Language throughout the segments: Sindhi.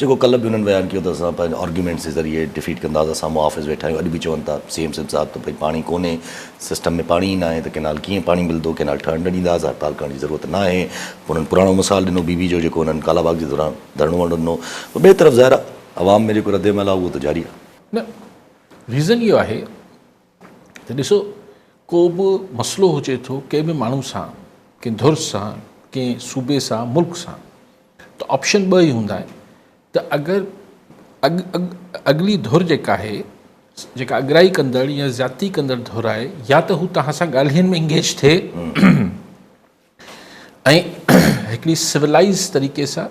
جيڪو ڪلهه به انهن بيان ڪيو ته اسان پنهنجو آرگيومينٽس جي ذريعي ڊفيٽ ڪنداسين اسان محافظ ويٺا آهيون اڄ به چون ٿا سي ايم سنڌ صاحب ته ڀئي پاڻي ڪونهي سسٽم ۾ پاڻي ئي ناهي ته ڪينال ڪيئن پاڻي ملندو ڪينال ٺهڻ نه ڏينداسين هڙتال ڪرڻ جي ضرورت ناهي پوء انهن پراڻو مثال ڏنو بي بي جو جيڪو انهن ڪالا باغ جي دوران ڌرڻو وڻڻو ڏنو پوء ٻئي طرف ظاهر آهي عوام ۾ جيڪو رد عمل آهي اهو ته جاري آهي. نه ريزن اهو آهي ته ڏسو ڪو به مسئلو هجي ٿو ڪنهن به ماڻهو سان ڪنهن ڌر سان ڪنهن صوبي سان ملڪ سان ته آپشن ٻه ئي هوندا آهن ته اگر اڳ اڳ اڳلي ڌر جيڪا آهي جيڪا اڳرائي ڪندڙ يا زيادتي ڪندڙ ڌر آهي يا ته هو توهان سان ڳالهين ۾ انگيج ٿئي ۽ هڪڙي سولائز طريقي سان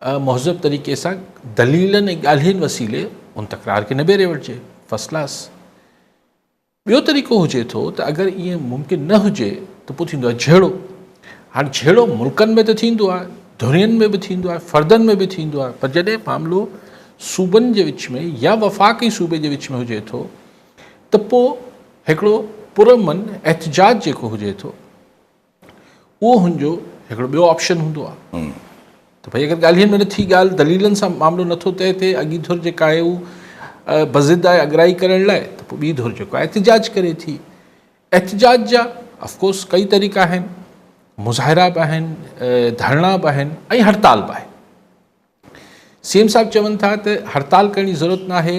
مهذب طريقي سان دليلن ۽ ڳالهين وسيلي ان تڪرار کي نبيري وٺجي. First class. ٻيو طريقو هجي ٿو ته اگر ائين ممڪن نه هجي ته پوء ٿيندو آهي جهيڙو. هاڻ جهيڙو ملڪن ۾ ته ٿيندو آهي، ڌرين ۾ به ٿيندو آهي، فردن ۾ به ٿيندو آهي پر جڏهن معاملو صوبن جي وچ ۾ يا وفاق ۽ صوبي جي وچ ۾ هجي ٿو ته پوء هڪڙو پرامن احتجاج جيڪو هجي ٿو، اهو هن جو هڪڙو ٻيو آپشن هوندو آ ته ڀئي اگر ڳالهين ۾ نٿي ڳالهه دليلن سان معاملو نٿو طئي ٿئي اڳي ڌر جيڪا آهي هو بضد آهي اڳرائي ڪرڻ لاء ته پوء ٻي ڌر جيڪو آهي احتجاج ڪري ٿي احتجاج جا افڪورس ڪئي طريقا آهن مظاهرا به آهن ڌرڻا به آهن ۽ هڙتال به آهي سي ايم صاحب چون ٿا ته هڙتال ڪرڻ جي ضرورت ناهي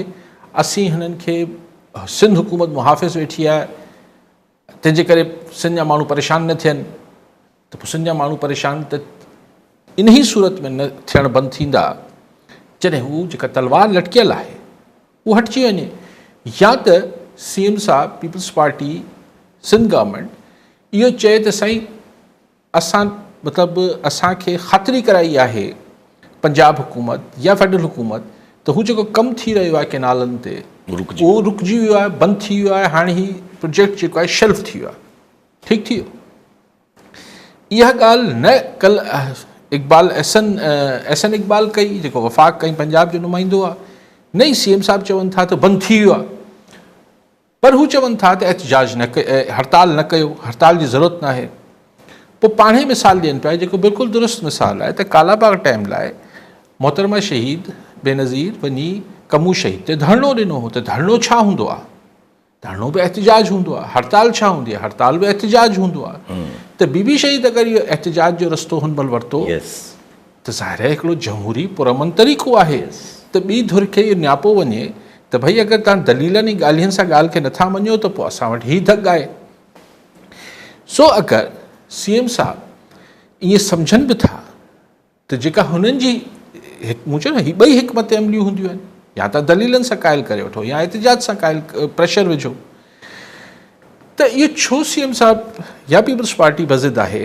اسين هنن کي سنڌ حڪومت محافظ ويٺي آهي تنهن جي ڪري سنڌ جا ماڻهو پريشان نه ٿين ته پوء سنڌ جا ماڻهو پريشان ته انهي صورت ۾ نه ٿيڻ بند ٿيندا جڏهن هو جيڪا تلوار لٽڪيل آهي اهو هٽجي وڃي يا ته سي ايم صاحب پيپلز پارٽي سنڌ گورنمنٽ اهو چئي ته سائين اسان مطلب اسان کي خاطري ڪرائي آهي پنجاب حڪومت يا فيڊرل حڪومت ته هو جيڪو ڪم ٿي رهيو آهي ڪينالن تي اهو رڪجي ويو آهي بند ٿي ويو آهي هاڻي هي پروجيڪٽ جيڪو آهي شيلف ٿي ويو آهي ٺيڪ ٿي ويو اها ڳالهه نه ڪل اقبال احسن احسن اقبال ڪئي جيڪو وفاق ڪئي پنجاب جو نمائندو آهي نه ئي سي ايم صاحب چون ٿا ته بند ٿي ويو آهي پر هو چون ٿا ته احتجاج نه ڪيو، هڙتال نه ڪيو، هڙتال جي ضرورت ناهي. پوء پاڻ ئي مثال ڏين پيا جيڪو بلڪل درست مثال آهي ته ڪالا باغ ٽائيم لاء محترمه شهيد بينظير وڃي ڪمون شهيد تي ڌرڻو ڏنو هو ته ڌرڻو ڇا هوندو آهي؟ ڌرڻو به احتجاج هوندو آهي، هڙتال ڇا هوندي آهي؟ هڙتال به احتجاج هوندو آهي ته بي بي شهيد اگر اهو احتجاج جو رستو هن مهل ورتو. ته ظاهر آهي هڪڙو جمهوري پرامن طريقو آهي ته ٻي ڌر کي اهو نياپو وڃي ته ڀئي اگر توهان دليلن ۽ ڳالهين سان ڳالهه کي نٿا مڃو ته پوء اسان وٽ هي ڌڳ آهي. سو اگر سي ايم صاحب ائين سمجهن به ٿا ته جيڪا هنن جي مون چيو نه هي ٻئي حڪمت عمليون هونديون آهن يا توهان دليلن سان قائل ڪري وٺو يا احتجاج سان قائل پريشر وجهو ته اهو ڇو سي ايم صاحب يا پيپلز پارٽي بضد آهي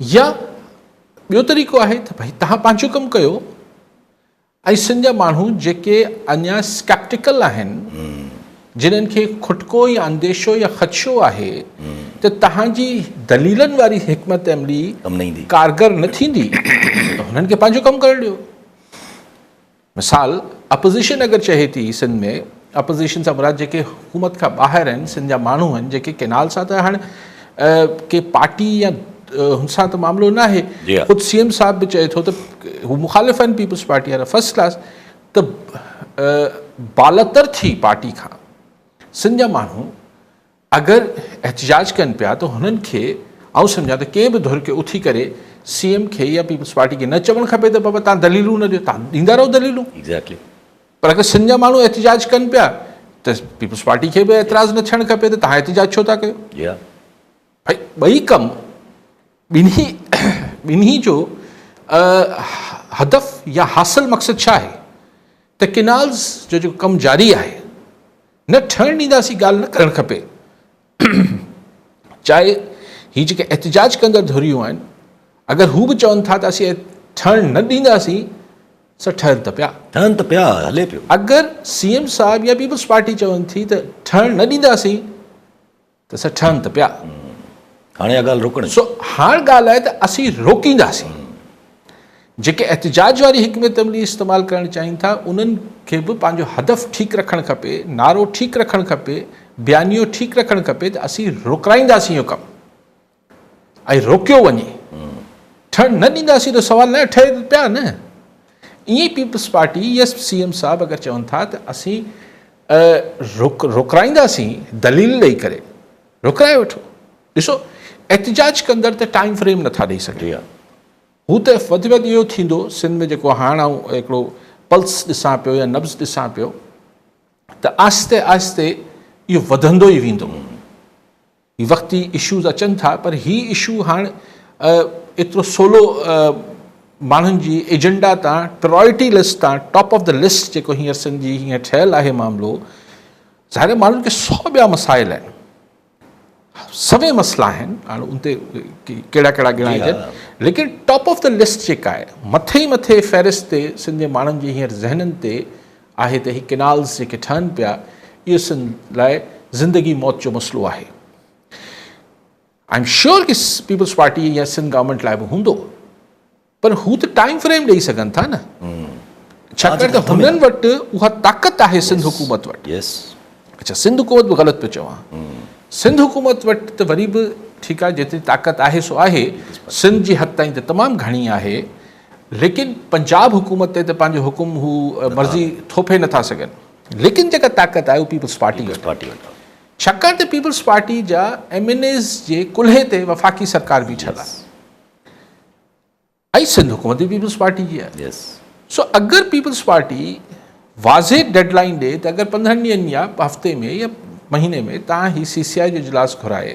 يا ٻيو طريقو آهي ته ڀئي توهان پنهنجو ڪم ڪيو ۽ سنڌ جا ماڻهو جيڪي اڃا اسڪيپٽيڪل آهن جنهن کي کٽڪو يا انديشو يا خدشو آهي ته توهان جي دليلن واري حڪمت عملي ڪارگر نه ٿيندي ته هنن کي پنهنجو ڪم ڪرڻ ڏيو مثال، اپوزيشن اگر چهي ٿي سنڌ ۾ اپوزيشن سان مراد جيڪي حڪومت کان ٻاهر آهن سنڌ جا ماڻهو آهن جيڪي ڪينال سان ته هاڻ ڪي پارٽي يا هن سان ته معاملو ناهي خود سي ايم صاحب به چئي ٿو ته هو مخالف آهن پيپلز پارٽي وارا فرسٽ ڪلاس ته بالتر ٿي پارٽي کان سنڌ جا ماڻهو اگر احتجاج ڪن پيا ته هنن کي آئون سمجهان ته ڪنهن به ڌر کي اٿي ڪري سي ايم کي يا پيپلز پارٽي کي نه چوڻ کپي ته بابا تهان دليلون نه ڏيو تهان ڏيندا رهو دليلون Exactly. پر اگر سنڌ جا ماڻهو احتجاج ڪن پيا ته پيپلز پارٽي کي به اعتراض نه ٿيڻ کپي ته تهان احتجاج ڇو ٿا ڪيو. Yeah. ڀئي ٻئي ڪم ٻنهي ٻنهي جو هدف يا حاصل مقصد ڇا آهي ته ڪينالز جو جيڪو ڪم جاري آهي. نه ٺهڻ ڏينداسين ڳالهه نه ڪرڻ کپي چاهي هي جيڪي احتجاج ڪندڙ ڌريون آهن اگر هو به چون ٿا ته اسين ٺهڻ نه ڏينداسين سا ٺهن ته پيا. ٺهن ته پيا هلي پيو. اگر سي ايم صاحب يا پيپلز پارٽي چون ٿي ته ٺهڻ نه ڏينداسين. ته سا ٺهن ته پيا. هاڻي اها ڳالهه روڪڻي. سو هاڻ ڳالهه آهي ته اسين روڪينداسين. جيڪي احتجاج واري حڪمت عملي استعمال ڪرڻ چاهين ٿا، انهن کي به پنهنجو هدف ٺيڪ رکڻ کپي، نعرو ٺيڪ رکڻ کپي، بيانيو ٺيڪ رکڻ کپي ته اسين روڪرائينداسين اهو ڪم. ۽ روڪيو وڃي ٺھڻ نه ڏينداسين ته سوال نه ٺھي پيا نه ائين ئي Peoples Party yes C M صاحب اگر چون ٿا ته اسين روڪ روڪرائينداسين دليل ڏئي ڪري روڪرائي وٺو ڏسو احتجاج ڪندڙ ته ٽائيم فريم نٿا ڏئي سگھن هو ته وڌ ۾ وڌ اهو ٿيندو سنڌ ۾ جيڪو هاڻ آئون هڪڙو پلس ڏسان پيو يا نبز ڏسان پيو ته آهستي آهستي اهو وڌندو ئي ويندو هي وقتي اشوز اچن ٿا پر هي اشو هاڻ ايترو سولو ماڻهن جي ايجنڊا تان پرائرٽي لسٽ تان ٽاپ آف دا لسٽ جيڪو هينئر سنڌ جي هينئر ٺهيل آهي معاملو ظاهر ماڻهن کي سو ٻيا مسائل آهن سوين مسئلا آهن هاڻ ان تي ڪهڙا ڪهڙا ڳڻائجن ليڪن ٽاپ آف دا لسٽ جيڪا آهي مٿي مٿي فهرست تي سنڌ جي ماڻهن جي هينئر ذهنن تي آهي ته هي ڪينالز جيڪي ٺهن پيا اهو سنڌ لاء زندگي موت جو مسئلو آهي آئي ايم شيور ڪي پيپلز پارٽي يا سنڌ گورنمنٽ لاء به هوندو پر هو ته ٽائيم فريم ڏيئي سگهن ٿا نه ڇاڪاڻ ته هنن وٽ اها طاقت آهي سنڌ حڪومت وٽ اچھا سنڌ حڪومت به غلط پيو چوان سنڌ حڪومت وٽ ته وري به ٺيڪ آهي جيتري طاقت آهي سو آهي سنڌ جي حد تائين ته تمام گهڻي آهي ليڪن پنجاب حڪومت تي ته پنهنجو حڪم هو مرضي ٿوپي نه ٿا سگهن ليڪن جيڪا طاقت آهي اهو پيپلز پارٽي وٽ آهي ڇاڪاڻ ته پيپلز پارٽي جا ايم اين ايز جي ڪلهي تي وفاقي سرڪار بيٺل آهي ۽ سنڌ حڪومت به پيپلز پارٽي جي آهي سو اگر پيپلز پارٽي واضح ڊيڊ لائن ڏي ته اگر پندرهن ڏينهن يا هفتي ۾ يا مهيني ۾ تان هي سي سي آء جو اجلاس گهرائي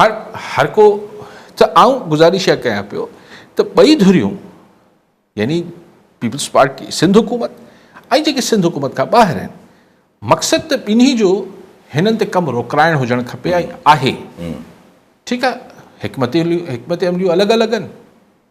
هاڻ هر ڪو ته آئون گذارش اها ڪيان پيو ته ٻئي ڌريون يعني پيپلز پارٽي سنڌ حڪومت ۽ جيڪي سنڌ حڪومت کان ٻاهر آهن مقصد ته ٻنهي جو هنن تي ڪم روڪرائڻ هجڻ کپي ۽ آهي ٺيڪ آهي حڪمت حڪمت عمليون الڳ الڳ آهن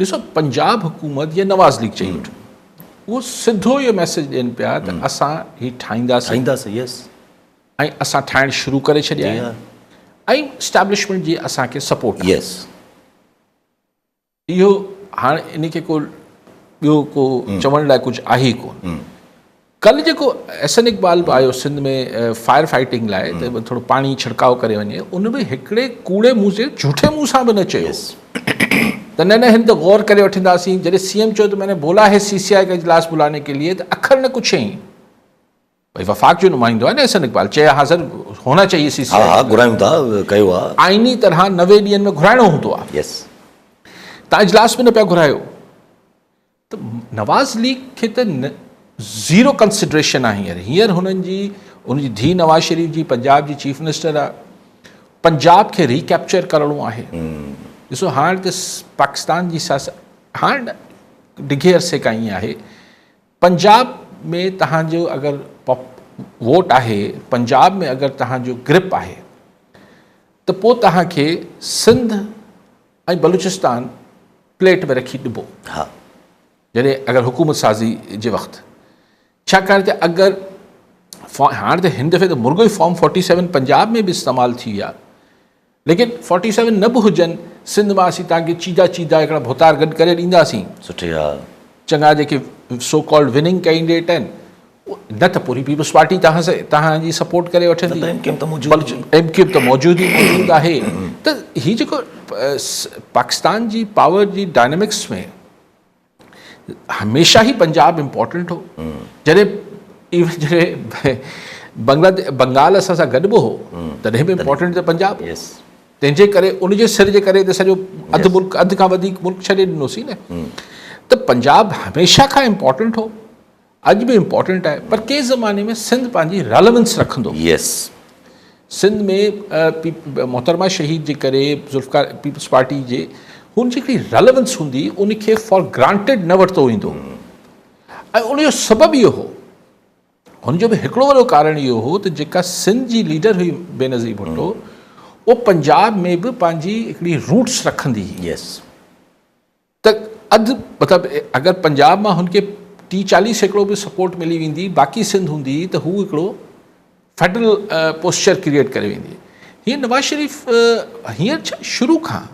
ڏسو پنجاب حڪومت يا نواز ليگ چئي وٺو اهو سڌو اهو ميسج ڏين پيا ته اسان هي ٺاهينداسين ۽ اسان ٺاهڻ شروع ڪري ڇڏيا آهن ۽ اسٽيبلشمنٽ جي اسان کي سپورٽ يس اهو هاڻ ان کي ڪو ٻيو ڪو چوڻ لاء ڪجهه آهي ڪون ڪلهه جيڪو احسن اقبال به آيو سنڌ ۾ فائر فائيٽنگ لاء ته ٿورو پاڻي ڇڙڪاء ڪري وڃي ان به هڪڙي ڪوڙي منهن سي جهوٺي منهن سان به نه چيو ته نه نه هن ته غور ڪري وٺنداسين جڏهن سي ايم چيو ته مين بولا هي سي سي آء کي اجلاس بلانے ڪي ليئي ته اکر نه ڪڇيائين ڀائی وفاق جو نمائندو آهي نه احسن اقبال چي ها سر هونا چاهيي سي سي آء گهرايون ٿا ڪيو آهي آئيني طرح نوي ڏينهن ۾ گهرائڻو هوندو آهي يس تان اجلاس به نه پيا گهرايو ته نواز ليگ کي ته زيرو ڪنسڊريشن آهي هينئر هينئر هنن جي ان جي ڌي نواز شريف جي پنجاب جي چيف منسٽر آهي پنجاب کي ري ڪيپچر ڪرڻو آهي ڏسو هاڻ ته پاڪستان جي سياست هاڻ ڊگهي عرصي کان ائين آهي پنجاب ۾ تهان جو اگر ووٽ آهي پنجاب ۾ اگر تهان جو گرپ آهي ته پوء تهان کي سنڌ ۽ بلوچستان پليٽ ۾ رکي ڏبو جڏهن اگر حڪومت سازي جي وقت ڇاڪاڻ ته اگر هاڻ ته هن دفعي ته مرغو ئي فارم فورٽي سيون پنجاب ۾ به استعمال ٿي ويا ليڪن فورٽي سيون نه به هجن سنڌ مان اسين تان کي چيدا چيدا هڪڙا ڀوتار گڏ ڪري ڏينداسين سٺي ها چڱا جيڪي سو ڪالڊ وننگ ڪينڊيڊيٽ آهن نه ته پوري پيپلز پارٽي توهان جي سپورٽ ڪري وٺندي ايم ڪيو ايم ته موجود آهي ايم ڪيو ايم ته موجود ئي موجود آهي ته هي جيڪو پاڪستان جي پاور جي ڊائنامڪس ۾ هميشه ئي پنجاب امپورٽنٽ هو جڏهن ايون جڏهن بنگلاديش بنگال اسان سان گڏ به هو تڏهن به امپورٽنٽ ته پنجاب تنهن جي ڪري ان جي سر جي ڪري ته سڄو اڌ ملڪ اڌ کان وڌيڪ ملڪ ڇڏي ڏنوسي نه ته پنجاب هميشه کان امپورٽنٽ هو اڄ به امپورٽنٽ آهي پر ڪنهن زماني ۾ سنڌ پنهنجي ريليونس رکندو. يس سنڌ ۾ محترمه شهيد جي ڪري ذوالفقار پيپلز پارٽي جي هن جي هڪڙي ريليونس هوندي ان کي فار گرانٽيڊ نه ورتو ويندو ۽ ان جو سبب اهو هو هن جو به هڪڙو وڏو ڪارڻ اهو هو ته جيڪا سنڌ جي ليڊر هئي بينظير ڀٽو اهو پنجاب ۾ به پنهنجي هڪڙي روٽس رکندي هئي يس ته اڌ مطلب اگر پنجاب مان هن کي ٽي چاليهه سيڪڙو به سپورٽ ملي ويندي باقي سنڌ هوندي ته هو هڪڙو فيڊرل پوسچر ڪريئيٽ ڪري ويندي هي نواز شريف هينئر ڇا شروع کان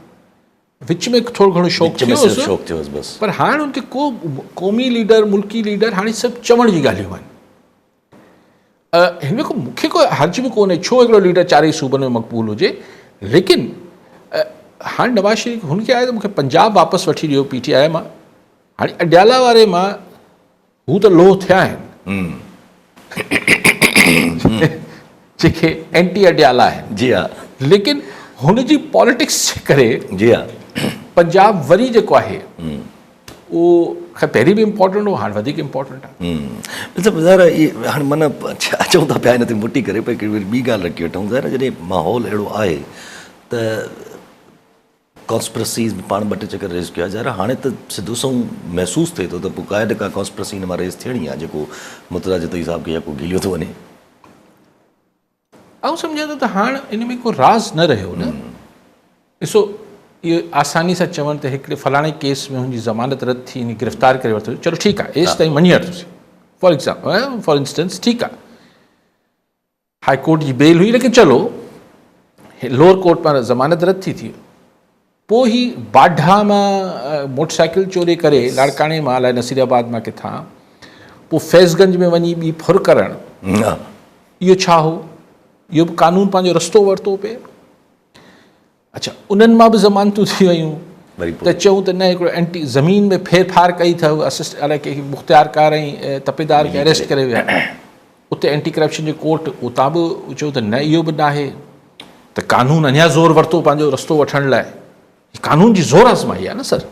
وچ ۾ ٿورو گهڻو شوق ٿيو بس پر هاڻ ان کي ڪو قومي ليڊر ملڪي ليڊر هاڻي سڀ چوڻ جي ڳالهيون آهن هن ۾ مون کي ڪو حرج به ڪونهي ڇو هڪڙو ليڊر چارئي صوبن ۾ مقبول هجي ليڪن هاڻي نواز شريف هن کي آيو ته مونکي پنجاب واپس وٺي ڏيو پي ٽي آء مان هاڻي اڊيالا واري مان هو ته لوهه ٿيا آهن جيڪي اينٽي اڊيالا آهن جي ها ليڪن هن جي پاليٽڪس جي ڪري جي ها پنجاب وري جيڪو آهي اهو خير پهرين به امپورٽنٽ هو هاڻ وڌيڪ امپورٽنٽ آهي. ڊاڪٽر صاحب ظاهر آهي اهي هاڻ من اچون ٿا پيا ان تي موٽي ڪري پر وري ٻي ڳالهه رکي وٺون ظاهر آهي جڏهن ماحول اهڙو آهي ته ڪانسپرسيز به پاڻ ٻه ٽي چڪر ريز ڪيو آهي ظاهر آهي هاڻي ته سڌو سنئون محسوس ٿئي ٿو ته پوء ڪا نه ڪا ڪانسپرسي هن مان ريز ٿيڻي آهي جيڪو مرتضيٰ جتوئي صاحب کي يڪو گهليو ٿو وڃي. آئون سمجهان ٿو ته هاڻ ان ۾ ڪو راز نه رهيو نه ڏسو اهو آساني سان چوڻ ته هڪڙي فلاڻي ڪيس ۾ هن جي ضمانت رد ٿي ان گرفتار ڪري ورتو چلو ٺيڪ آهي ايس تائين مڃي وٺسين فار ايگزامپل فار انسٽنس ٺيڪ آهي هاء ڪورٽ جي بيل هئي ليڪن چلو لوور ڪورٽ پاران ضمانت رد ٿي ٿي پوء هي باڊها مان موٽر سائيڪل چوري ڪري لاڙڪاڻي مان الائي نصير آباد مان ڪٿان پوء ڦيض گنج ۾ وڃي ٻي ڦر ڪرڻ اهو ڇا هو؟ اهو به قانون پنهنجو رستو ورتو پئي. اڇا انهن مان به ضمانتون ٿي ويون ته چئون ته نه هڪڙو اينٽي زمين ۾ ڦير ڦار ڪئي اٿو اسسٽ الائي ڪنهن کي مختيارڪار ۽ تپيدار کي اريسٽ ڪري ويا. اتي اينٽي ڪرپشن جي ڪورٽ اتان به چيو ته نه اهو به ناهي ته قانون اڃا زور ورتو پنهنجو رستو وٺڻ لاء قانون جي زور آزمائي آهي نه سر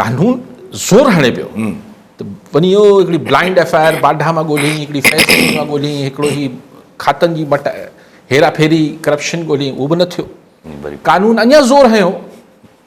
قانون زور هڻي پيو ته وڃي اهو هڪڙي بلائنڊ ايف آء آر باڊا مان ڳولهين هڪڙي فيصلي مان ڳولهين هڪڙو هي کاتن جي مٽ هيرا ڦيري ڪرپشن ڳولهين اهو به نه ٿيو قانون اڃا زور هنيو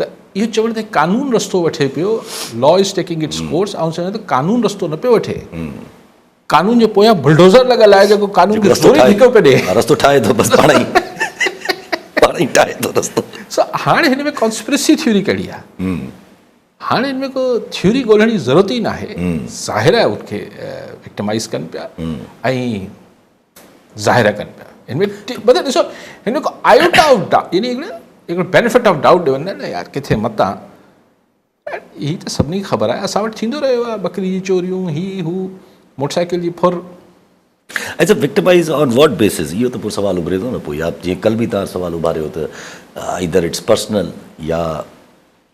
ته اهو چوڻ تائين قانون رستو وٺي پيو law is taking its course آئون سمجهان ته قانون رستو نه پيو وٺي قانون جي پويان بلڊوزر لڳل آهي جيڪو قانون کي رستو ٺيڪو ڪڍي رستو ٺاهي ٿو بس پاڻ ئي پاڻ ئي ٺاهي ٿو رستو سو هاڻي هن ۾ ڪانسپرسي ٿيوري ڪهڙي آهي هاڻي هن ۾ ڪو ٿيوري ڳولهڻ جي ضرورت ئي ناهي ظاهر آهي ان کي وڪٽمائز ڪن پيا ۽ ظاهر ڪن پيا ان ۾ مطلب ڏسو ان ۾ ڪو آيوٽا آف ڊاؤٽ يعني هڪڙو بينيفٽ آف ڊاؤٽ ڏيون نه يار ڪٿي متان هي ته سڀني کي خبر آهي اسان وٽ ٿيندو رهيو آهي ٻڪري جي چوريون هي هو موٽر سائيڪل جي ڦر اچھا وڪٽمائز آن واٽ بيسز اهو ته پوء سوال اڀري ٿو نه پوء يا جيئن ڪل به تان سوال اڀاريو ته آئيدر اٽس پرسنل يا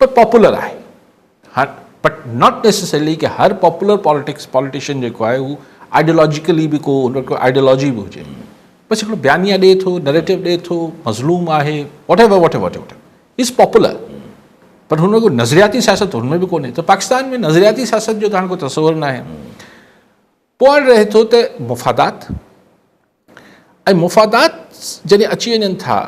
پر پاپولر آهي هر بٽ ناٽ نيسيسرلي ڪي هر پاپولر پاليٽڪس پاليٽيشن جيڪو آهي هو آئيڊيولاجيڪلي به ڪو هن ڪو آئيڊيولاجي به هجي بس هڪڙو بيانيه ڏي ٿو نريٽو ڏي ٿو مظلوم آهي whatever whatever whatever is popular but هن ڪو نظرياتي سياست هن ۾ به ڪونهي ته پاڪستان ۾ نظرياتي سياست جو ته هاڻي ڪو تصور ناهي پوائنٽ رهي ٿو ته مفادات ۽ مفادات جڏهن اچي وڃن ٿا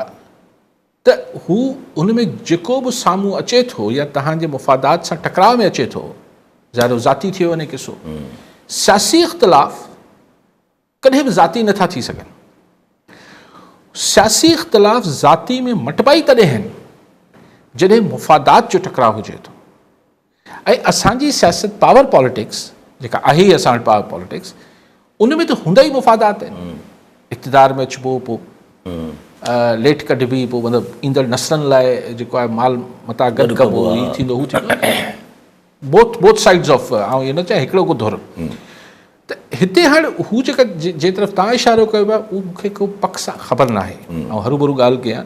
ته هو ان ۾ جيڪو به سامهون اچي ٿو يا توهان جي مفادات سان ٽڪراء ۾ اچي ٿو ظاهر هو ذاتي ٿئي وڃي قصو سياسي اختلاف ڪڏهن به ذاتي نٿا ٿي سگهن سياسي اختلاف ذاتي ۾ مٽبا ئي تڏهن آهن جڏهن مفادات جو ٽڪراء هجي ٿو ۽ اسان جي سياست پاور پاليٽڪس جيڪا آهي ئي اسان وٽ پاور پاليٽڪس ان ۾ ته هوندا ئي مفادات آهن اقتدار ۾ اچبو پوء ليٽ ڪڍبي پوء مطلب ايندڙ نسلن لاء جيڪو آهي مال متا گڏ ڪبو هي ٿيندو هو ٿيندو بوٿ بوٿ سائيڊز آف آئون اهو نه چاهي هڪڙو ڪو ڌر ته هتي هاڻي هو جيڪا جنهن طرف تان اشارو ڪيو ويو آهي اهو مون کي ڪو پڪ سان خبر ناهي آئون هرو برو ڳالهه ڪيان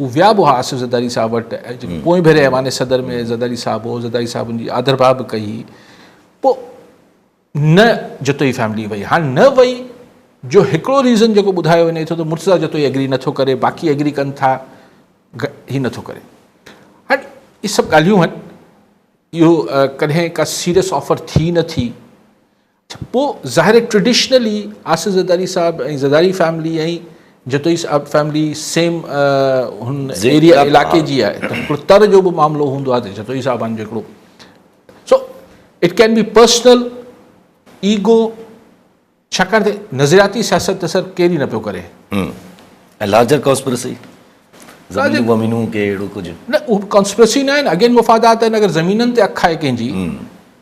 هو ويا به هئا آصف زرداري صاحب وٽ جيڪو پوئين ڀيري ايوان صدر ۾ زرداري صاحب هو زرداري صاحب ان جي آڌرڀاء به ڪئي هئي پوء نه جتوئي فيملي وئي هاڻ نه وئي جو هڪڙو ريزن جيڪو ٻڌايو وڃي ٿو ته مرتضيٰ جتوئي ايگري نٿو ڪري باقي ايگري ڪن ٿا هي نٿو ڪري هاڻ هي سڀ ڳالهيون آهن اهو ڪڏهن ڪا سيريس آفر ٿي نه ٿي پوء ظاهر آهي ٽريڊيشنلي آصف زرداري صاحب ۽ زرداري فيملي ۽ جتوئي صاحب فيملي سيم هن ايريا علاقي جي آهي ته هڪڙو تر جو به معاملو هوندو آهي ته جتوئي صاحبان جو هڪڙو so it can be personal ego ڇاڪاڻ ته نظرياتي سياست ته سر ڪير ئي نه پيو ڪري لارجر ڪانسپرسي زمين ومينون ڪي اهڙو ڪجهه نه اهو ڪانسپرسي نه آهي نه اڳين مفادات آهن اگر زمينن تي اک آهي ڪنهن جي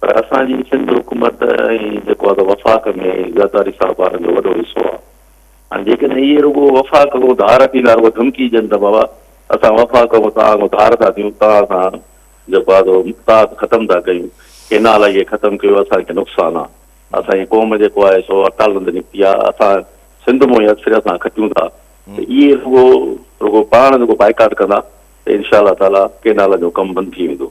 پر اسان جي سنڌ حڪومت ۽ جيڪو آهي سو وفاق ۾ زرداري صاحب وارن جو وڏو حصو آهي. هاڻي جيڪڏهن اهي رڳو وفاق کان ڌار ڏيندا رڳو ڌمڪي ڏين ته بابا اسان وفاق کان توهان کان ڌار ٿا ڏيون توهان سان جيڪو آهي سو مفاد ختم ٿا ڪيون ڪينال اهي ختم ڪيو اسان کي نقصان آهي اسان جي قوم جيڪو آهي سو اڪالن تي نڪتي آهي اسان سنڌ مون هي سر سان کٽيون ٿا ته اهي رڳو رڳو پاڻ رڳو بائيڪاٽ ڪندا ته انشاء الله تعاليٰ ڪينالن جو ڪم بند ٿي ويندو.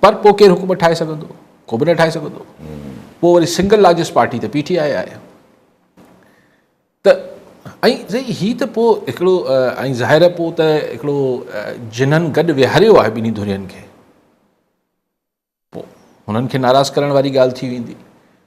پر پوء ڪير حڪومت ٺاهي سگهندو؟ ڪو به نه ٺاهي سگهندو. پوء وري سنگل لارجسٽ پارٽي ته پي ٽي آء آهي. ته ۽ سائين هي ته پوء هڪڙو ۽ ظاهر پوء ته هڪڙو جنھن گڏ ويھاريو آهي ٻنھي ڌرين کي پوء هنن کي ناراض ڪرڻ واري ڳالهه ٿي ويندي.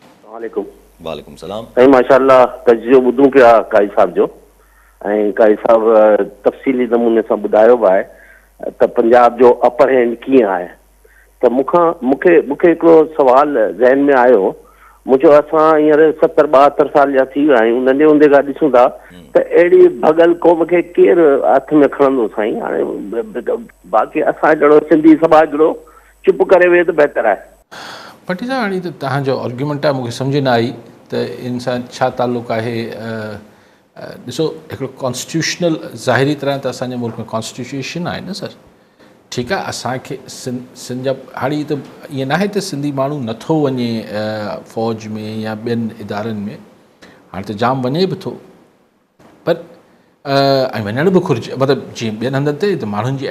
السلام عليڪم وعليڪم سلام. سائين ماشاء الله تجزيو ٻڌون پيا قائد صاحب جو ۽ قائد صاحب تفصيلي نموني سان ٻڌايو به آهي ته پنجاب جو اپر هينڊ ڪيئن آهي ته مون کان مون کي مون کي هڪڙو سوال ذهن ۾ آيو مون چيو اسان هينئر ستر ٻاهتر سال جا ٿي ويا آهيون ننڍي هوندي کان ڏسون ٿا ته اهڙي ڀڳل قوم کي ڪير هٿ ۾ کڻندو سائين هاڻي باقي اسان جهڙو سنڌي سماج جهڙو چپ ڪري ويهه ته بهتر آهي. ڀٽي صاحب هاڻي ته توهان جو آرگيومينٽ آهي مون کي سمجهه نه آئي ته ان سان ڇا تعلق آهي ڏسو هڪڙو ڪانسٽيٽيوشنل ظاهري طرح ته اسان جي ملڪ ۾ ڪانسٽيٽيوشن آهي نه سر ٺيڪ آهي اسان کي سن جا هاڻي هي ته ائين ناهي ته سنڌي ماڻهو نٿو وڃي فوج ۾ يا ٻين ادارن ۾ هاڻي ته جام وڃي به ٿو پر ائين وڃڻ به گهرجي مطلب جيئن ٻين هنڌن تي ته ماڻهن جي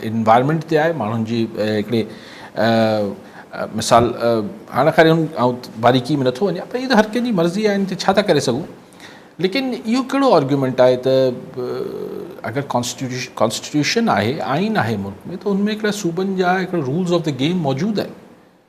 انوائرمنٽ تي آهي ماڻهن جي هڪڙي مثال هاڻ خير ان آئون باریڪي ۾ نٿو وڃان پر هي ته هر ڪنهن جي مرضي آهي ان تي ڇا ٿا ڪري سگهون ليڪن اهو ڪهڙو آرگيومنٽ آهي ته اگر ڪانسٽيٽيوش ڪانسٽيٽيوشن آهي آئين آهي ملڪ ۾ ته ان ۾ هڪڙا صوبن جا هڪڙا رولز آف دا گيم موجود آهن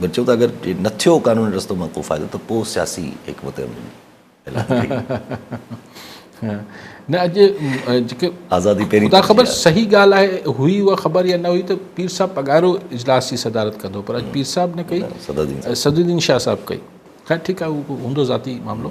بچو ته اگر نه ٿيو قانوني رستو مان ڪو فائدو ته پوء سياسي حڪمت عملي نه اڄ جيڪي آزادي پهرين خدا خبر صحيح ڳالهه آهي هئي اها خبر يا نه هئي ته پير صاحب پگهارو اجلاس جي صدارت ڪندو پر اڄ پير صاحب نه ڪئي صدر الدين شاهه صاحب ڪئي خير ٺيڪ آهي اهو هوندو ذاتي معاملو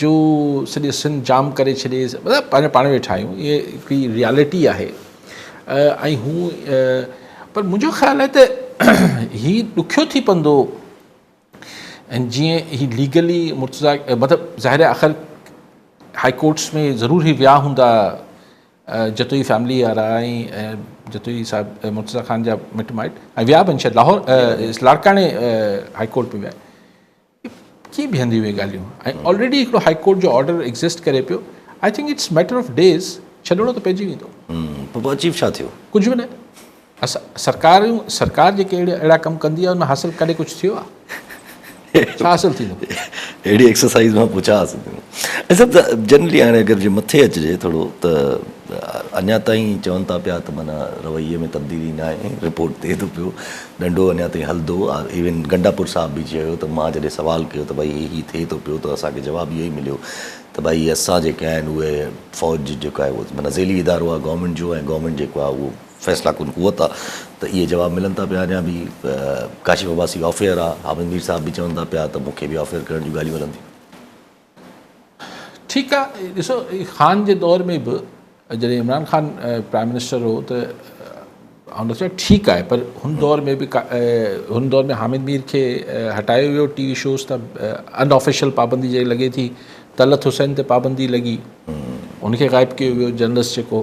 جو سڄي سنڌ جام ڪري ڇڏي مطلب پنهنجو پاڻ ويٺا آهيون اهي هڪڙي ريالٽي آهي ۽ هو پر منهنجو خيال آهي ته هي ڏکيو ٿي پوندو ۽ جيئن هي ليگلي مرتضا مطلب ظاهر آخر هاء ڪورٽس ۾ ضرور هي ويا هوندا جتوئي فيملي وارا ۽ جتوئي صاحب مرتضا خان جا مٽ مائٽ ۽ ويا به شايد لاهور لاڙڪاڻي هاء ڪورٽ ۾ ويا ڪيئن بيهنديون اهي ڳالهيون ۽ آلريڊي هڪڙو هائي ڪورٽ جو آرڊر ايگزسٽ ڪري پيو I think it's matter of days ڇڏڻو ته پئجي ويندو. پر پوء اچيف ڇا ٿيو؟ ڪجهه به نه اسان سرڪار سرڪار جيڪي اهڙا اهڙا ڪم ڪندي آهي ان مان حاصل ڪڏهن ڪجهه ٿيو آهي ڇا حاصل ٿيندو؟ اهڙي ايڪسرسائيز مان پوء ڇا حاصل ٿيندو؟ ۽ سڀ جنرلي هاڻي اگر جي مٿي اچجي ٿورو ته اڃا تائين چون ٿا پيا ته معنيٰ رويي ۾ تبديلي ناهي رپورٽ ٿئي ٿو پيو ڏنڊو اڃا تائين هلندو آ. ايون گنڊاپور صاحب به چيو ته مان جڏهن سوال ڪيو ته ڀائي هي ٿئي ٿو پيو ته اسان کي جواب اهو ئي مليو ته ڀائي اسان جيڪي آهن اهي فوج جيڪو آهي اهو معنيٰ ذيلي ادارو آهي گورنمينٽ جو ۽ گورنمينٽ جيڪو آهي اهو فيصلا ڪن قوت آ ته اهي جواب ملن ٿا پيا اڃا به ڪاشف عباسي آف ايئر آ حامد مير صاحب به چون ٿا پيا ته مون کي به آف ايئر ڪرڻ جون ڳالهيون هلن ٿيون. ٺيڪ آ ڏسو خان جي دور ۾ به جڏهن عمران خان پرائم منسٽر هو ته آن چيو ٺيڪ آهي پر هن دور ۾ به هن دور ۾ حامد مير کي هٽايو ويو ٽي وي شوز ته ان آفيشل پابندي جيڪي لڳي ٿي طلعت حسين تي پابندي لڳي ان کي غائب ڪيو ويو جرنلسٽ جيڪو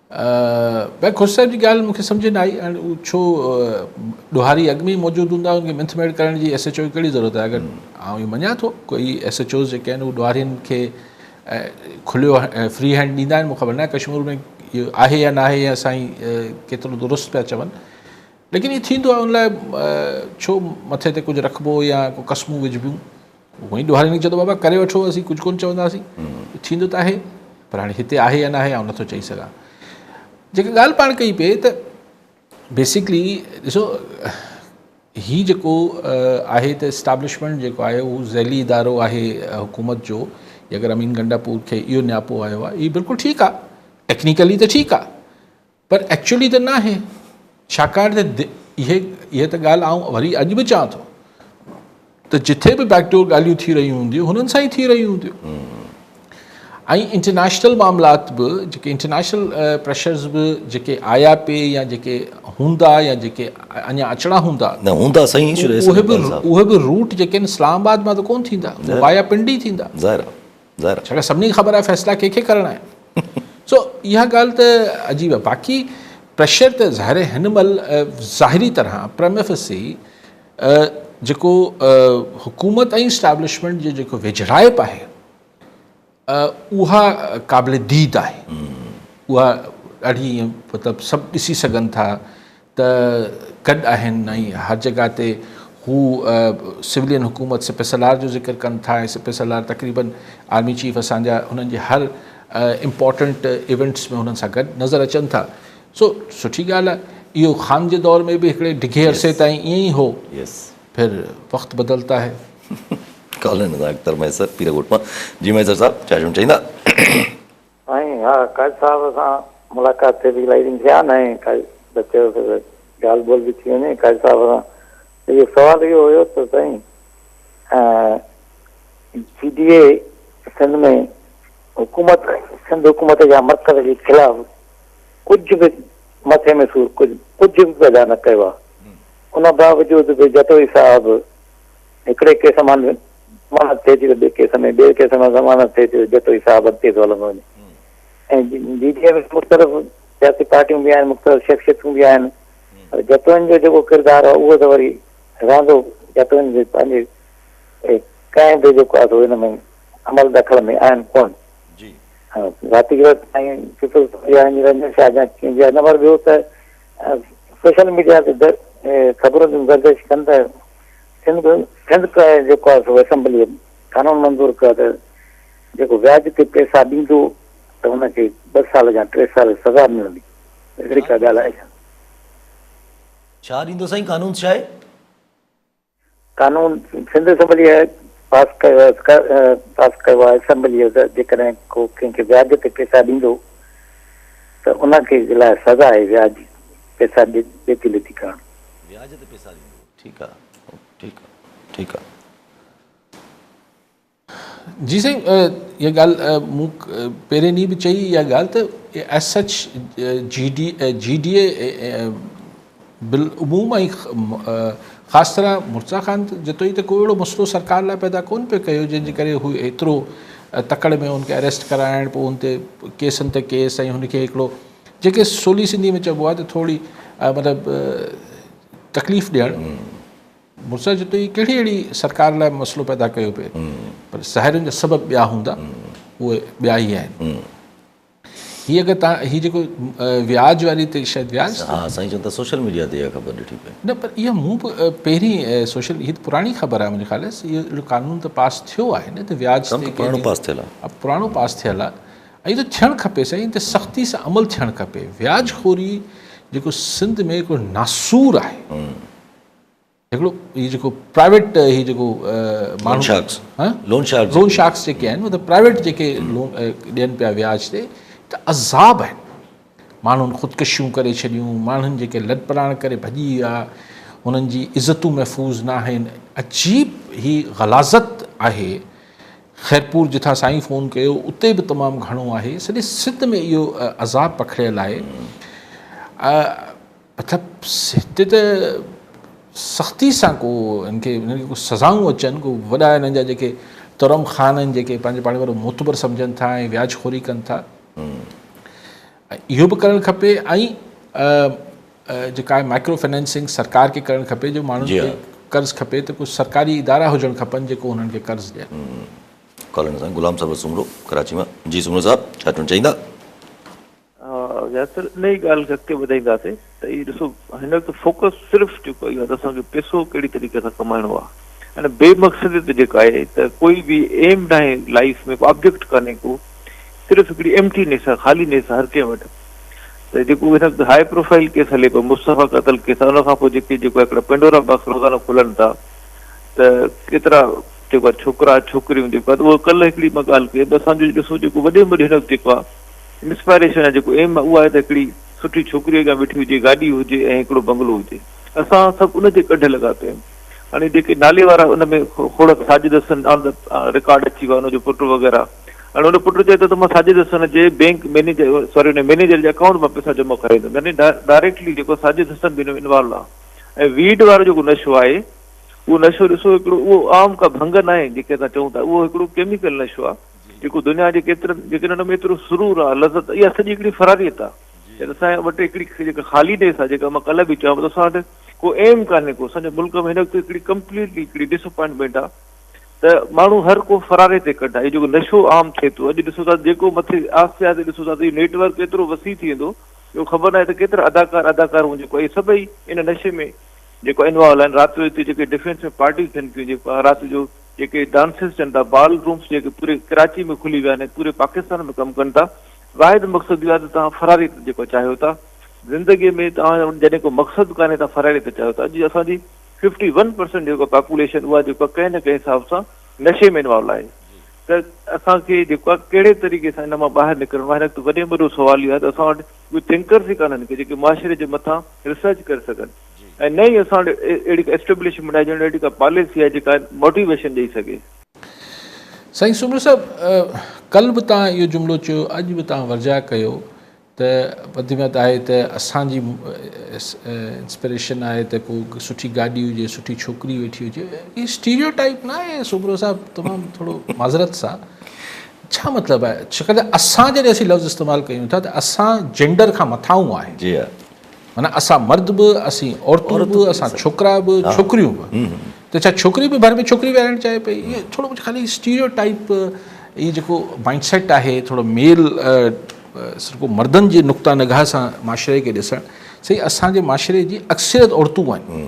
بئڪ خوش صاحب جي ڳالهه مون کي سمجهه نه آئي هاڻي هو ڇو ڏوهاري اڳ ۾ ئي موجود هوندا ان کي منٿ ميڙ ڪرڻ جي ايس ايچ او جي ڪهڙي ضرورت آهي اگر آئون هي مڃان ٿو ڪوئي ايس ايچ اوز جيڪي آهن هو ڏوهارين کي کليو فري هينڊ ڏيندا آهن مون خبر نه ڪشمور ۾ اهو آهي يا نه آهي يا سائين ڪيترو درست پيا چون ليڪن هي ٿيندو آهي ان لاء ڇو مٿي تي ڪجهه رکبو يا ڪو قسمون وجهبيون هونئن ڏوهاري نڪي چيو ته بابا ڪري وٺو اسين ڪجهه ڪونه چونداسين ٿيندو ته آهي پر هاڻي هتي آهي يا ناهي آئون نٿو چئي سگهان جيڪا ڳالهه پاڻ ڪئي پئي ته بيسڪلي ڏسو هي جيڪو آهي ته اسٽابلشمنٽ جيڪو آهي اهو ذيلي ادارو آهي حڪومت جو اگر امين گنڊا پور کي اهو نياپو آيو آهي هي بلڪل ٺيڪ آهي ٽيڪنيڪلي ته ٺيڪ آهي پر ايڪچوئلي ته ناهي ڇاڪاڻ ته اهي اهي ته ڳالهه آئون وري اڄ به چوان ٿو ته جٿي به بيڪ ڊور ڳالهيون ٿي رهيون هونديون هنن سان ئي ٿي رهيون هونديون ۽ انٽرنيشنل معاملات به جيڪي انٽرنيشنل پريشرز به جيڪي آيا پي يا جيڪي هوندا يا جيڪي اڃا اچڻا هوندا نه هوندا سائين اهي به اهي به روٽ جيڪي اسلام آباد مان ته ڪون ٿيندا وايا پنڊي ٿيندا ظاهر ظاهر ڇاڪاڻ سڀني کي خبر آهي فيصلا ڪنهن کي ڪرڻا آهن سو اها ڳالهه ته عجيب آهي باقي پريشر ته ظاهر هن مهل ظاهري طرح پرمفسي جيڪو حڪومت ۽ اسٽيبلشمنٽ جو جيڪو ويجهڙائپ آهي اها قابل ديد آهي اها ڏاڍي مطلب سڀ ڏسي سگهن ٿا ته گڏ آهن ۽ هر جڳهه تي هو سولين حڪومت سپه سالار جو ذڪر ڪن ٿا ۽ سپه سالار تقريبن آرمي چيف اسان جا هنن جي هر امپورٽنٽ ايونٽس ۾ هنن سان گڏ نظر اچن ٿا سو سٺي ڳالهه آهي اهو خان جي دور ۾ به هڪڙي ڊگهي عرصي تائين ائين ئي هو پھر وقت بدلتا هي ڪالن اختر ميسر پيرگوٽ مان جي ميسر صاحب چاشم چئيندا سائين ها قائد صاحب سان ملاقات تي به الائي ڏينهن ٿيا آهن ۽ قائد به چيو ته ڳالهه ٻولهه به ٿي وڃي قائد صاحب سان اهو سوال اهو هيو ته سائين جي ڊي اي سنڌ ۾ حڪومت سنڌ حڪومت يا مرڪز جي خلاف ڪجهه به مٿي ۾ سور ڪجهه ڪجهه به پيدا نه ڪيو آهي ان باوجود به جتوئي صاحب هڪڙي ڪيس مان ضمانت ٿئي ٿي ته ٻئي ڪيس ۾ ٻئي ڪيس مان ضمانت ٿئي ٿي ته جتوئي صاحب اڳتي ٿو هلندو وڃي ۽ جي ڊي اي ۾ مختلف سياسي پارٽيون به آهن مختلف شخصيتون به آهن پر جتوئين جو جيڪو ڪردار آهي اهو ته وري رهندو جتوئين جي پنهنجي ڪنهن به جيڪو آهي ان ۾ عمل دخل ۾ آهن ڪون جي ذاتي گرد سائين پيپلز پارٽي وارن رنجن شاهه جا ڪنهن جا نمبر ٻيو ته سوشل ميڊيا تي خبرون گردش ڪن ته سنڌ سنڌ ڪا جيڪو آهي سو اسيمبليء قانون منظور ڪيو آهي ته جيڪو وياج تي پئسا ڏيندو ته ان کي ٻه سال يا ٽي سال سزا ملندي اهڙي ڪا ڳالهه آهي ڇا؟ ڇا ڏيندو سائين قانون ڇا آهي؟ قانون سنڌ اسيمبليء پاس ڪيو پاس ڪيو آهي اسيمبليء ته جيڪڏهن ڪو ڪنهن کي وياج تي پئسا ڏيندو ته ان کي لاء سزا آهي وياج پئسا ڏيتي ليتي ڪرڻ. وياج تي پئسا ڏيندو. ٺيڪ آ ٺيڪ آ ٺيڪ آ. جي سائين اها ڳالهه مون پهرين ڏينهن به چئي اها ڳالهه ته ايس سچ جي ڊي جي ڊي اي بالعموم ۽ خاص طرح مرزا خان جتوئي ته ڪو اهڙو مسئلو سرڪار لاء پيدا ڪون پيو ڪيو جنهن جي ڪري هو ايترو تڪڙ ۾ هن کي اريسٽ ڪرائڻ پوء هن تي ڪيسن تي ڪيس ۽ هن کي هڪڙو جيڪي سولي سنڌي ۾ چئبو آهي ته ٿورڙي مطلب تڪليف ڏيڻ مرزا جتوئي جي ڪهڙي اهڙي سرڪار لاء مسئلو پيدا ڪيو پئي پر سهارين جا سبب ٻيا هوندا اهي ٻيا ئي آهن هي اگر تان هي جيڪو وياج واري تي شايد وياج ها سائين چون ته سوشل ميڊيا تي خبر ڏٺي پئي نه پر اها مون به پهرين سوشل هي پراڻي خبر آهي منهنجي خيال سي اهڙو قانون ته پاس ٿيو آهي نه ته وياج تي پراڻو پاس ٿيل آهي پراڻو پاس ٿيل آهي ائين ته ٿيڻ کپي سائين ته سختي سان عمل ٿيڻ کپي وياج خوري جيڪو سنڌ ۾ هڪڙو ناسور آهي هڪڙو هي جيڪو پرائيويٽ هي جيڪو ماڻهو sharks loan sharks loan sharks جيڪي آهن مطلب پرائيويٽ جيڪي لون ڏين پيا وياج تي ته عذاب آهن ماڻهن خودڪشيون ڪري ڇڏيون، ماڻهن جيڪي لڏپلاڻ ڪري ڀڄي ويا، انهن جي عزتون محفوظ نه آهن. عجيب هي غلاظت آهي. خيرپور جتان سائين فون ڪيو اتي به تمام گهڻو آهي. سڄي سنڌ ۾ اهو عذاب پکڙيل آهي. مطلب هتي ته سختي سان ڪو هن کي هن کي ڪو سزائون اچن ڪو وڏا هنن جا جيڪي ترم خان آهن جيڪي پنهنجي پاڻ وارو معتبر سمجهن ٿا ۽ وياج خوري ڪن ٿا اهو به ڪرڻ کپي ۽ جيڪا آهي مائڪرو فنانسنگ سرڪار کي ڪرڻ کپي جو ماڻهن کي قرض کپي ته ڪجهه سرڪاري ادارا هجڻ کپن جيڪو هنن کي قرض ڏين ڪالن سان غلام صاحب سومرو ڪراچي مان جي سومرو صاحب ڇا چوڻ چاهيندا ياسر انهي ڳالهه کي اڳتي وڌائينداسين ته هي ڏسو هن وقت فوڪس صرف جيڪو اهو آهي ته اسان کي پيسو ڪهڙي طريقي سان ڪمائڻو آهي ان بي مقصدي ته جيڪا آهي ته ڪوئي به ايم ناهي لائف ۾ آبجيڪٽ ڪانهي ڪو صرف هڪڙي ايمٽي نيس آهي خالي نيس هر ڪنهن وٽ ته جيڪو هن وقت هاء پروفائل ڪيس هلي پيو مصطفيٰ قتل ڪيس ان کان پوء جيڪي جيڪو هڪڙا پينڊورا باڪس روزانو کلن ٿا ته ڪيترا جيڪو آهي ڇوڪرا ڇوڪريون جيڪو آهي ته اهو ڪل هڪڙي مان ڳالهه ڪئي ته اسان جو ڏسو جيڪو وڏي ۾ وڏي هن وقت جيڪو آهي انسپائريشن يا جيڪو ايم اهو آهي ته هڪڙي سٺي ڇوڪري اڳيان ويٺي هجي، گاڏي هجي ۽ هڪڙو بنگلو هجي. اسان سڀ ان جي ڳڍ لڳا پيا آهيون. هاڻي جيڪي نالي وارا ان ۾ کوڙڪ Sajid Hassan on the record اچي ويو آهي ان جو پٽ وغيره هاڻي ان پٽ چئي ٿو ته مان ساجد حسن جي بينڪ مينيجر سوري ان مينيجر جي اڪائونٽ مان پئسا جمع ڪرائي ايندم يعني ڊائريڪٽلي جيڪو ساجد حسن به ان ۾ انوالو آهي ۽ ويڊ وارو جيڪو نشو آهي اهو نشو ڏسو هڪڙو اهو عام ڪا ڀنگ ناهي جيڪي اسان چئون ٿا اهو هڪڙو ڪيميڪل نشو آهي جيڪو دنيا جي ڪيترن جيڪن ان ۾ ايترو سرور آ لذت اها سڄي هڪڙي فراريت آ يعني اسان وٽ هڪڙي جيڪا خالي نيس آ جيڪا مان ڪلهه به چيو ته اسان وٽ ڪو ايم ڪانهي ڪو سڄي ملڪ ۾ هن وقت هڪڙي ڪمپليٽلي هڪڙي ڊس اپوائنٽمينٽ آ ته ماڻهو هر ڪو فراري تي ڪڍ آهي جيڪو نشو عام ٿئي ٿو اڄ ڏسو ٿا جيڪو مٿي آهستي آهستي ڏسو ٿا ته نيٽ ورڪ ايترو وسيع ٿي ويندو جو خبر ناهي ته ڪيترا اداڪار اداڪارون جيڪو اهي سڀئي ان نشي ۾ جيڪو انوالو آهن رات جو هتي جيڪي ڊفينس ۾ پارٽيون ٿين ٿيون جيڪو رات جو جيڪي ڊانسز چون ٿا، بال رومز جيڪي پوري ڪراچي ۾ کلي ويا آهن ۽ پوري پاڪستان ۾ ڪم ڪن ٿا، واحد مقصد اهو آهي ته توهان فراري ته جيڪو چاهيو ٿا زندگي ۾ توهان جو جڏهن ڪو مقصد ڪانهي ته فراري ته چاهيو ٿا، اڄ اسان جي ففٽي ون پرسنٽ جيڪو پاپوليشن اها جيڪو آهي ڪنهن نه ڪنهن حساب سان نشي ۾ انوالو آهي ته اسان کي جيڪو آهي ڪهڙي طريقي سان ان مان ٻاهر نڪرڻو آهي هڪ وڏي ۾ وڏو سوال اهو آهي ته اسان وٽ اهي ٿنڪرز ئي ڪانهن ڪي جيڪي معاشري جي مٿان ريسرچ ڪري سگهن. ۽ نه ئي اسان وٽ اهڙي ڪا اسٽيبلشمينٽ آهي جنهن وٽ اهڙي ڪا پاليسي آهي جيڪا موٽيويشن ڏئي سگهي. سائين سومرو صاحب ڪل به توهان اهو جملو چيو اڄ به توهان ورجاء ڪيو ته وڌ ۾ وڌ آهي ته اسان جي انسپريشن آهي ته ڪو سٺي گاڏي هجي سٺي ڇوڪري ويٺي هجي هي اسٽيريو ٽائپ نه آهي سومرو صاحب تمام ٿورو معذرت سان ڇا مطلب آهي ڇاڪاڻ ته اسان جڏهن اسين لفظ استعمال ڪيون ٿا ته اسان جينڊر کان مٿاهون آهي جي معنيٰ اسان مرد به، اسين عورتون به، اسان ڇوڪرا به، ڇوڪريون به. ته ڇا ڇوڪري به ڀر ۾ ڇوڪري ويهارڻ چاهي پئي؟ اهو ٿورو ڪجهه خالي اسٽيريو ٽائيپ اهي جيڪو مائنڊ سيٽ آهي ٿورو ميل سرڪو مردن جي نقطه نگاهه سان معاشري کي ڏسڻ سهي اسان جي معاشري جي اڪثريت عورتون آهن.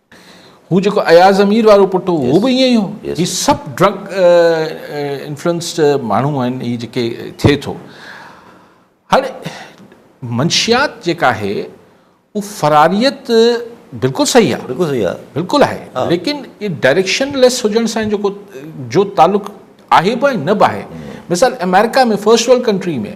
هو جيڪو اياز امير وارو پٽ هو هو به ائين ئي هو هي سڀ ڊرگ انفلوئنسڊ ماڻهو آهن هي جيڪي ٿئي ٿو هاڻي منشيات جيڪا آهي هو فراريت بلڪل صحيح آهي بلڪل صحيح آهي بلڪل آهي ليڪن هي ڊائريڪشن ليس هجڻ سان جيڪو جو تعلق آهي به ۽ نه به آهي مثال امريڪا ۾ فرسٽ ورلڊ ڪنٽري ۾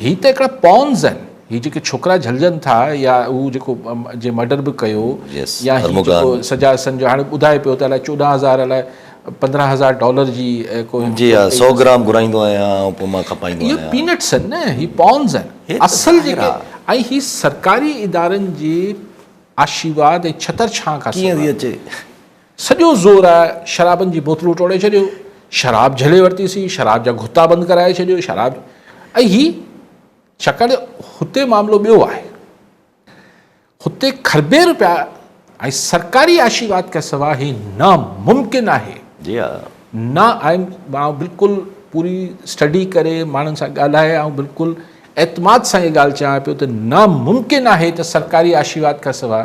هي ته هڪڙا پونز آهن هي جيڪي ڇوڪرا جهلجن ٿا يا هو جيڪو جي مرڊر به ڪيو يا هي جيڪو سجا حسن جو هاڻي ٻڌائي پيو ته الاء چوڏهن هزار الاء پندرهن هزار ڊالر جي ڪو جي ها سو گرام گهرائيندو آهيان ۽ پوء مان کپائيندو آهيان اهي پينٽس آهن نه هي پونز آهن اصل جيڪي ۽ هي سرڪاري ادارن جي آشيواد ۽ ڇتر ڇانء کان سواء ڪيئن ٿي اچي سڄو زور آء شرابن جي بوتلون ٽوڙي ڇڏيون، شراب جهلي ورتي سين، شراب جا گهتا بند ڪرائي ڇڏيو، شراب ۽ هي ڇاڪاڻ جو هتي معاملو ٻيو آهي. هتي کربين روپيا ۽ سرڪاري آشيرواد کان سواء هي ناممڪن آهي. جي ها. نه آئين آئون بلڪل پوري اسٽڊي ڪري ماڻهن سان ڳالهائي آئون بلڪل اعتماد سان اها ڳالهه چيان پيو ته ناممڪن آهي ته سرڪاري آشيرواد کان سواء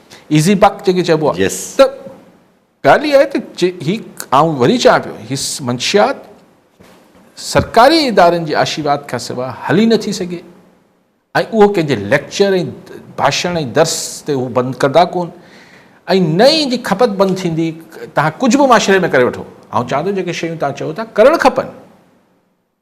ايزي بڪ جيڪي چئبو آ Yes. ته ڳالهه اها آهي ته جي هي آئون وري چوان پيو هي منشيات سرڪاري ادارن جي آشيواد کان سواء هلي نه ٿي سگهي ۽ اهو ڪنهن جي ليڪچر ۽ ڀاشڻ ۽ درس تي هو بند ڪندا ڪون ۽ نه ئي ان جي کپت بند ٿيندي توهان ڪجهه به معاشري ۾ ڪري وٺو آئون چوان ٿو جيڪي شيون توهان چئو ٿا ڪرڻ کپن